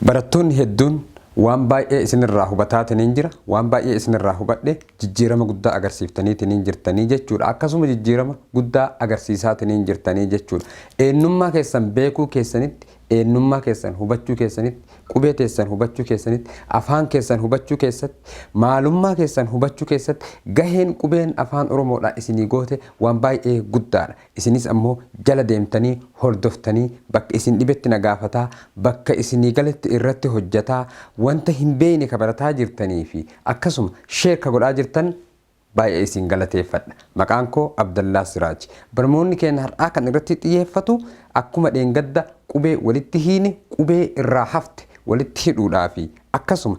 Barattoonni hedduun waan baay'ee isin irraa hubataatiniin jira, waan baay'ee isin irraa hubadhe, jijjiirama guddaa agarsiiftaniitiniin jirtanii jechuu dha. Akkasuma jijjiirama guddaa agarsiisaatiniin jirtanii jechuu dha. Eennummaa keessan beekuu keessanitti, eennummaa keessan hubachuu keessanitti, qubee teessan hubachuu keessanitti, afaan keessan hubachuu keessatti, maalummaa keessan hubachuu keessatti gaheen qubeen Afaan Oromoo dhaa isinii goote waan baay'ee guddaa dha. Isinis ammoo jala deemtanii hordoftanii bakka isin dhibetti na gaafataa, bakka isinii galetti irratti hojjataa, wanta hin beeyne ka barataa jirtanii fi akkasuma share ka godhaa jirtan baay'ee isin galateeffadha. Maqaan koo Abdallaa Siraaj. Barmoonni keenna har'aa kan irratti xiyeeffatu akkuma dheengadda qubee walitti hiine qubee irraa hafte walitti hidhuudhaa fi akkasuma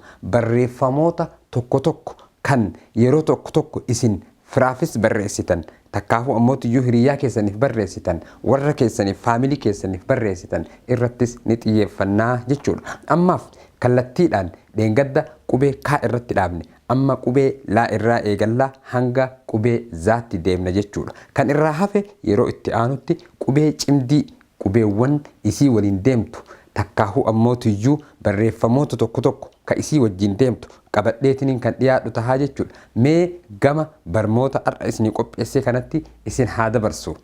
barreeffamoota tokko tokko kan yeroo tokko tokko isin firaafis barreessitan, takkaahuu ammoo tuyyuu hiriyyaa keessaniif barreessitan, warra keessaniif, family keessaniif barreessitan irrattis ni xiyyeeffanna jechuudha. Ammaaf kallattiidhaan dheengadda qubee K irratti dhaabne. Amma qubee L irraa eegalla hanga qubee Z tti deemna jechuudha. Kan irraa hafe yeroo itti aanutti qubee cimdii qubeewwan isii waliin deemtu takkaahuu ammoo tuyyuu barreeffamoota tokko tokko ka isii wajjiin deemtu qabadheetiniin kan dhiyaadhu tahaa jechuudha. Mee gama barmoota ar'a isinii qopheessee kanatti isin haa dabarsu.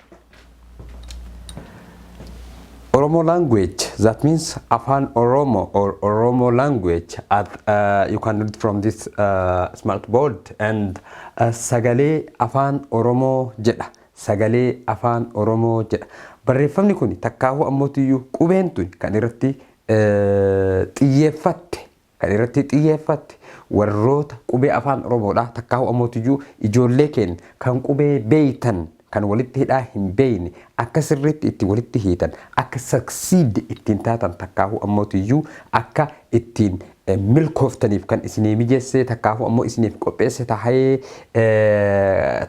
Oromo language, that means Afaan Oromo or Oromo language at, uh, you can read from this uh, smart board and uh, sagalee Afaan Oromoo jedha. Sagalee Afaan Oromoo jedha. Barreeffamni kuni takkaahuu ammootiyyuu qubeen tuni kan irratti xiyyeeffatte kan irratti xiyyeeffatte warroota qubee Afaan Oromoodhaa takkaahuu ammootiyyuu ijoollee keenya kan qubee beeytan kan walitti hidhaa hin beeyne akka sirriitti itti walitti hiitan akka succeed ittiin taatan takkaahuu ammootiyyuu akka ittiin milkooftaniif kan isinii mijeessee takkaafuu ammoo isiniif qopheesse tahee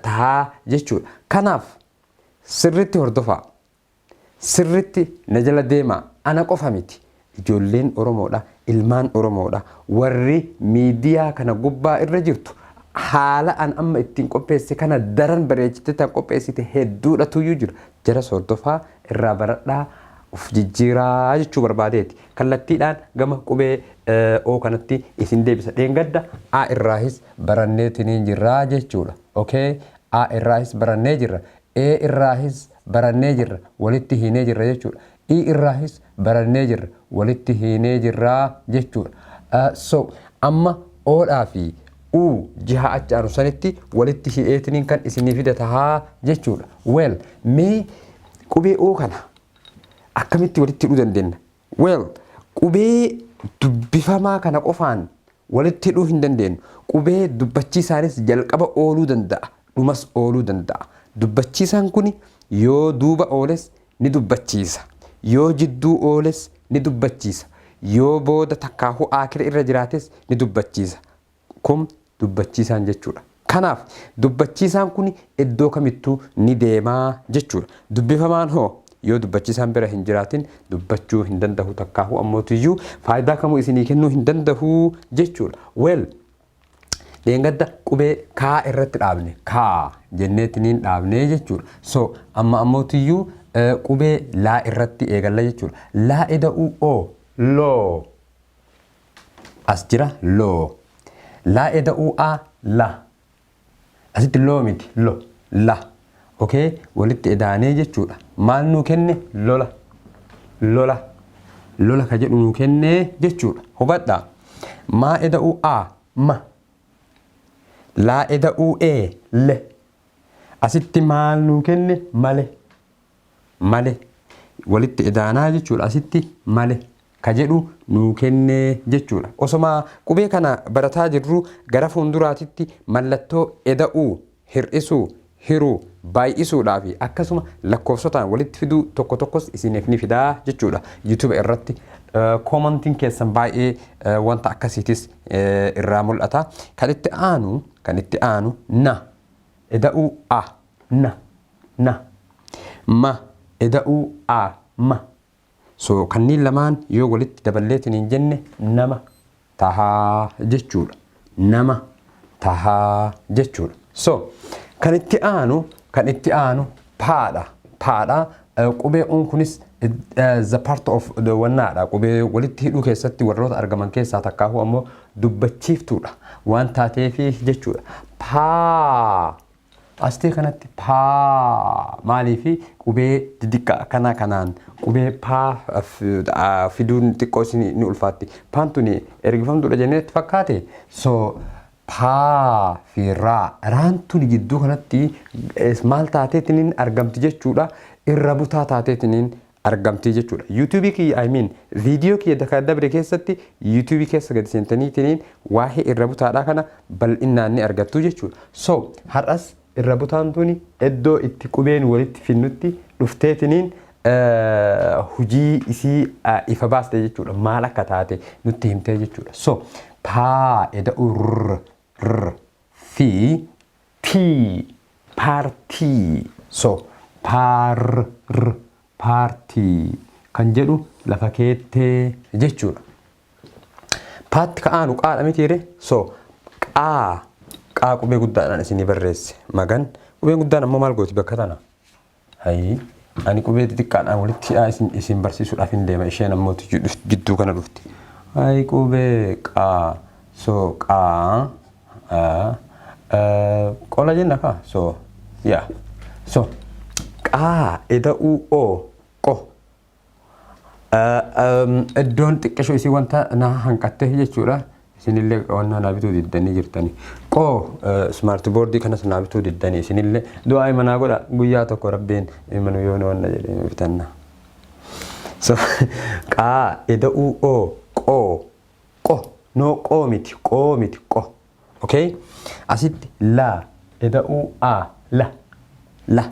tahaa jechuudha. Kanaaf sirritti hordofaa. Sirritti na jala deemaa. Ana qofa miti. Ijoolleen Oromoodha, ilmaan Oromoodha. Warri miidiyaa kana gubbaa irra jirtu haala an amma ittiin qopheesse kana daran bareechitee tan qopheessite hedduudha tuyyuu jira. Jaras hordofaa, irraa baradhaa, of jijjiiraa jechuu barbaadeeti. kallattiidhaan gama qubee O kanatti isin deebisa. Dheengadda A irraahis baranneetiniin jirra jechuudha. Okay? A irraahis barannee jirra. E irraahis barannee jirra. Walitti hiinee jirra jechuudha. I irraahis barannee jirra. Walitti hiinee jirra jechuudha. Uh, so, amma O dhaa fi U jiha achi aanu sanitti walitti hi'eetiniin kan isinii fida tahaa jechuudha. Well, mee qubee O kana akkamitti walitti hidhuu dandeenya? Well, qubee dubbifamaa kana qofaan walitti hidhuu hin dandeenyu. Qubee dubbachiisaanis jalqaba ooluu danda'a, dhumas ooluu danda'a. Dubbachiisaan kun yoo duuba ooles ni dubbachiisa, yoo jidduu ooles ni dubbachiisa, yoo booda takkaahuu aakhira irra jiraates ni dubbachiisa. Kun dubbachiisaan jechuudha. Kanaaf, dubbachiisaan kun iddoo kamittuu ni deema jechuudha. Dubbifamaan hoo? Yoo dubbachiisaan bira hin jiraatin dubbachuu hin dandahu takkaahuu ammootiyyuu faayidaa kamuu isinii kennuu hin dandahu jechuudha. Well, dheengadda qubee kaa irratti dhaabne. Kaa jenneetiniin dhaabne jechuudha. So, amma ammootiyyuu qubee laa irratti eegalla jechuudha. Laa ida'uu oo, loo. As jira loo. Laa eda'uu a la. Asitti loo miti lo la. Okay walitti edaanee jechuudha. Maal nuu kenne lola. Lola. Lola ka jedhu nuu kennee jechuudha. Hubadhaa. Maa eda'uu a ma. Laa eda'uu e le. Asitti maal nuu kenne male. male walitti edaanaa jechuudha asitti male ka jedhu nuu kennee jechuudha osoma qubee kana barataa jirru gara fuunduraatitti mallattoo eda'uu hir'isuu hiruu baay'isuudhaafi akkasuma lakkoofsotaan walitti fiduu tokko tokkos isiiniif ni fidaa jechuudha youtube irratti koomantiin keessan baay'ee wanta akkasiitis irraa mul'ata kan itti aanu kan itti aanu na eda'uu a na na ma eda'uu a ma so kanniin lamaan yoo walitti daballeetiniin jenne nama tahaa jechuudha nama tahaa jechuudha so kan itti aanu kan itti aanu paadha paadha qubee uun kunis the part of the wannaadha qubee walitti hidhuu keessatti warroota argaman keessaa takkaahuu ammoo dubbachiiftuudha waan taateefi jechuudha paa Astii kanatti P maaliifi qubee didiqqa akkanaa kanaan qubee P fiduun xiqqoo isin ni ulfaatti. Paan tuni ergifamtuudha jennee itti fakkaate. So P fi raa. Raan tuni jidduu kanatti maal taateetiniin argamti jechuudha. Irra butaa taateetiniin argamtii jechuudha youtube kiyya I mean video kiyya dakaa dabre keessatti youtube keessa gadi seentanii tiniin waa'ee irra butaadhaa kana bal'innaan ni argattuu jechuudha so har'as irra butaan tuni iddoo itti qubeen walitti finnutti dhuftee tiniin hujii isii ifa baaste jechuudha maal akka taate nutti himtee jechuudha so taa eda'u r r fi P Paartii So Paar r Paartii kan jedhu lafa keette jechuudha. Paatti ka aanu qaadha mitiire so qaa qaa qubee guddaadhaan isinii barreesse magan qubeen guddaan ammoo maal gooti bakka tana. Hayii ani qubee xixiqqaadhaan walitti hidhaa isin isin barsiisuudhaaf hin deema isheen ammoo tiyyu dhufti jidduu kana dhufti. Hayii qubee qaa so qaa a a qola jenna kaa so yaa so qaa eda'uu oo qo Iddoon xiqqisho isii wanta na hanqattee jechuudha. Isinillee wanta naa bituu diddanii jirtanii. Qoo smart boardii kanas naa bituu diddanii isinillee du'aa imanaa godha guyyaa tokko rabbiin imanu yoo nu wanna jedhee nu bitanna. Qaa ida'uu oo qoo qo noo qoo miti qoo miti qo. Ok asitti la eda'uu a la la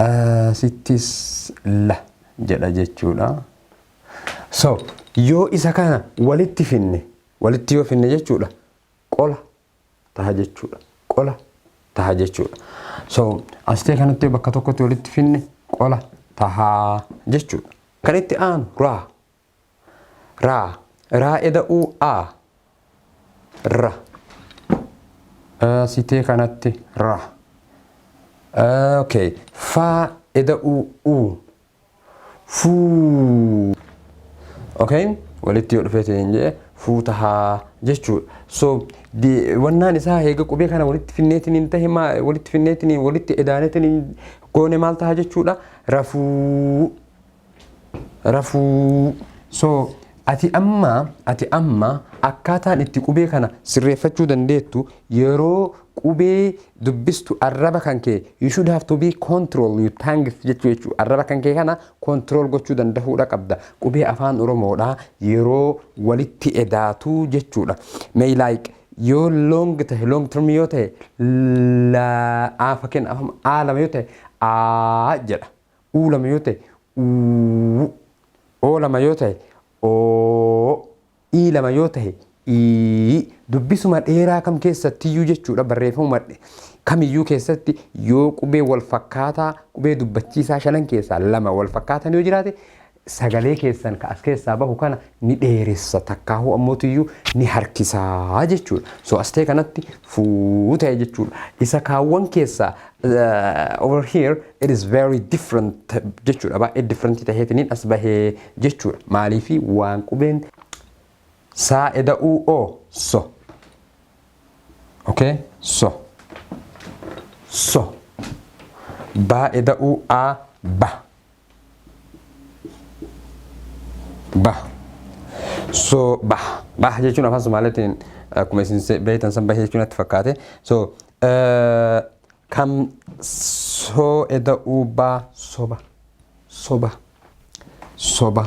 asittis la jedha jechuudha. So yoo isa kana walitti finne walitti yoo finne jechuudha qola taha jechuudha qola taha jechuudha. So asitee kanatti bakka tokkotti walitti finne qola tahaa jechuudha. Kan itti aanu raa Ra. Ra eda u a. Ra. A sitee kanatti ra. Okay. Fa eda u u. Fuu. Okay. Walitti yoo dhufee ta'een jee fuu tahaa jechuudha. So wannaan isaa heega qubee kana walitti finneetiin hin tahe maa walitti finneetiin walitti edaaneetiin goone maal tahaa jechuudha rafuu. rafuu so ati amma ati amma akkaataan itti qubee kana sirreeffachuu dandeettu yeroo qubee dubbistu arraba kan kee you should have to be control you tongue jechuu jechuu arraba kan kee kana control gochuu dandahuudha qabda qubee afaan oromoodha yeroo walitti edaatu jechuudha may like yoo long tahe long term yoo tahe la a fakkeenya afaan a lama yoo tahe a jedha uu lama yoo ta'e uu oo lama yoo ta'e oo ii lama yoo ta'e ii dubbisuma dheeraa kam keessattiyyuu jechuudha barreeffamuma kamiyyuu keessatti yoo qubee wal fakkaataa qubee dubbachiisaa shanan keessaa lama wal fakkaatan yoo jiraate sagalee keessan ka as keessaa bahu kana ni dheeressa takkaahuu ammootiyyuu ni harkisaa jechuudha. So as ta'e kanatti fuu ta'e jechuudha. Isa kaawwan keessaa uh, over here it is very different jechuudha. Baay'ee different ta'eetiniin as bahee jechuudha. Maaliifi waan qubeen saa eda'uu o so. Okay? So. So. Baa eda'uu a ba. Bah. So bah. Bah jechuun afaan Somaaliitiin akkuma isin se- beektan san bahee jechuun natti fakkaate. So eh, kam soo eda'uu baa soba. Soba. Soba.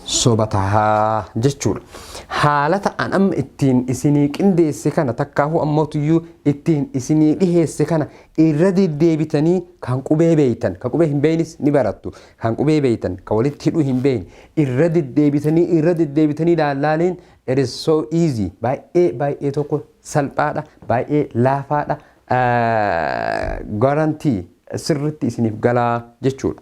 soba taha jechuudha. Haalata an amma ittiin isinii qindeesse kana takkaahuu ammootiyyuu ittiin isinii dhiheesse kana irra deddeebitanii kan qubee beeytan, kan qubee hin beeynis ni barattu, kan qubee beeytan, kan walitti hidhuu hin beeyne irra deddeebitanii irra deddeebitanii laallaaliin it is so easy baay'ee baay'ee tokko salphaadha, baay'ee laafaadha, garantii sirritti isiniif galaa jechuudha.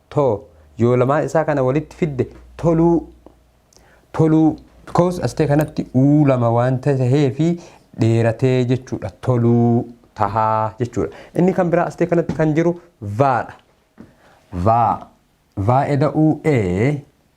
to yoo lamaan isaa kana walitti fidde toluu toluu because astee kanatti uu lama waan tahee fi dheeratee jechuudha toluu tahaa jechuudha inni kan biraa astee kanatti kan jiru vaadha vaa vaa eda'uu ee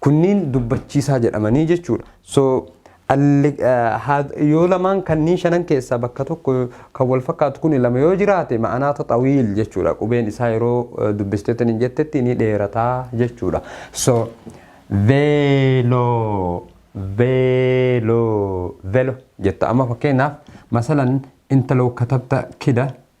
Kunniin dubbachiisaa jedhamanii jechuudha. So yoo lamaan kanniin shanan keessaa bakka tokko kan wal fakkaatu kuni lama yoo jiraate ma'anaata xawiil jechuudha. Qubeen isaa yeroo dubbisteetan hin jettetti ni dheerataa jechuudha. So veeloo veeloo velo jetta. Amma fakkeenyaaf masalan intaloo katabta kida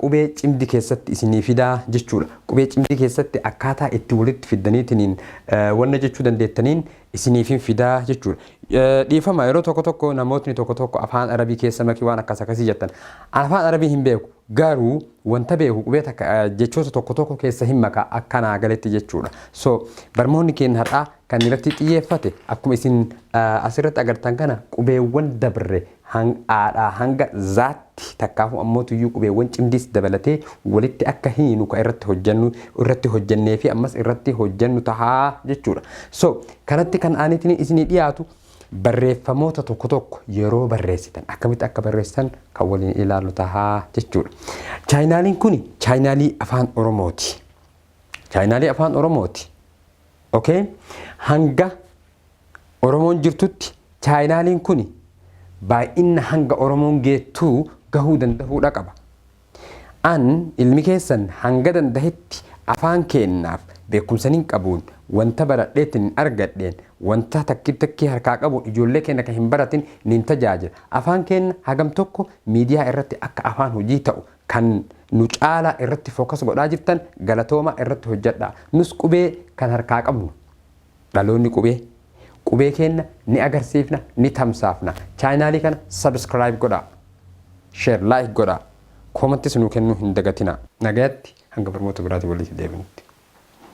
qubee cimdi keessatti isinii fidaa jechuudha. Qubee cimdi keessatti akkaataa itti walitti fiddaniitiniin wanna jechuu dandeettaniin isiniifin fidaa jechuudha. Dhiifama yeroo tokko tokko namootni tokko tokko afaan arabii keessa makii waan akkas akkasii jettan. An afaan arabii hin beeku garuu wanta beeku qubee takka jechoota tokko tokko keessa hin maka akka naa galetti jechuudha. So barmoonni keenya har'aa kan irratti xiyyeeffate akkuma isin asirratti agartan kana qubeewwan dabre hang aadhaa hanga zaatti takkaahuu ammoo tuyyuu qubeewwan cimdiis dabalatee walitti akka hiinu ka irratti hojjannu irratti hojjannee fi ammas irratti hojjannu tahaa jechuudha. So, kanatti kan aanitini isinii dhiyaatu barreeffamoota tokko tokko yeroo barreessitan akkamitti akka barreessitan kan waliin ilaallu tahaa jechuudha. Chaayinaaliin kuni chaayinaalii afaan Oromooti. Chaayinaalii afaan Oromooti. Okay? Hanga Oromoon jirtutti chaayinaaliin kuni baay'inna hanga Oromoon geettuu gahuu dandahuudha qaba. An ilmi keessan hanga dandahetti afaan keennaaf beekumsanin qabuun wanta baradheetinin argadheen wanta takki takkii harkaa qabuun ijoollee keenna kan hin baratin nin tajaajila. Afaan keenna hagam tokko miidiyaa irratti akka afaan hojii ta'u kan nu caalaa irratti focus godhaa jirtan galatoomaa irratti hojjadhaa. Nus qubee kan harkaa qabnu. Dhaloonni Qubee, Qubee keenna ni agarsiifna, ni tamsaafna. Chaayinaalii kana subscribe godhaa. Share, like godhaa. Comments nuu kennuu hin dagatinaa. Nagayatti hanga barmoota biraatiin waliiti deebinutti.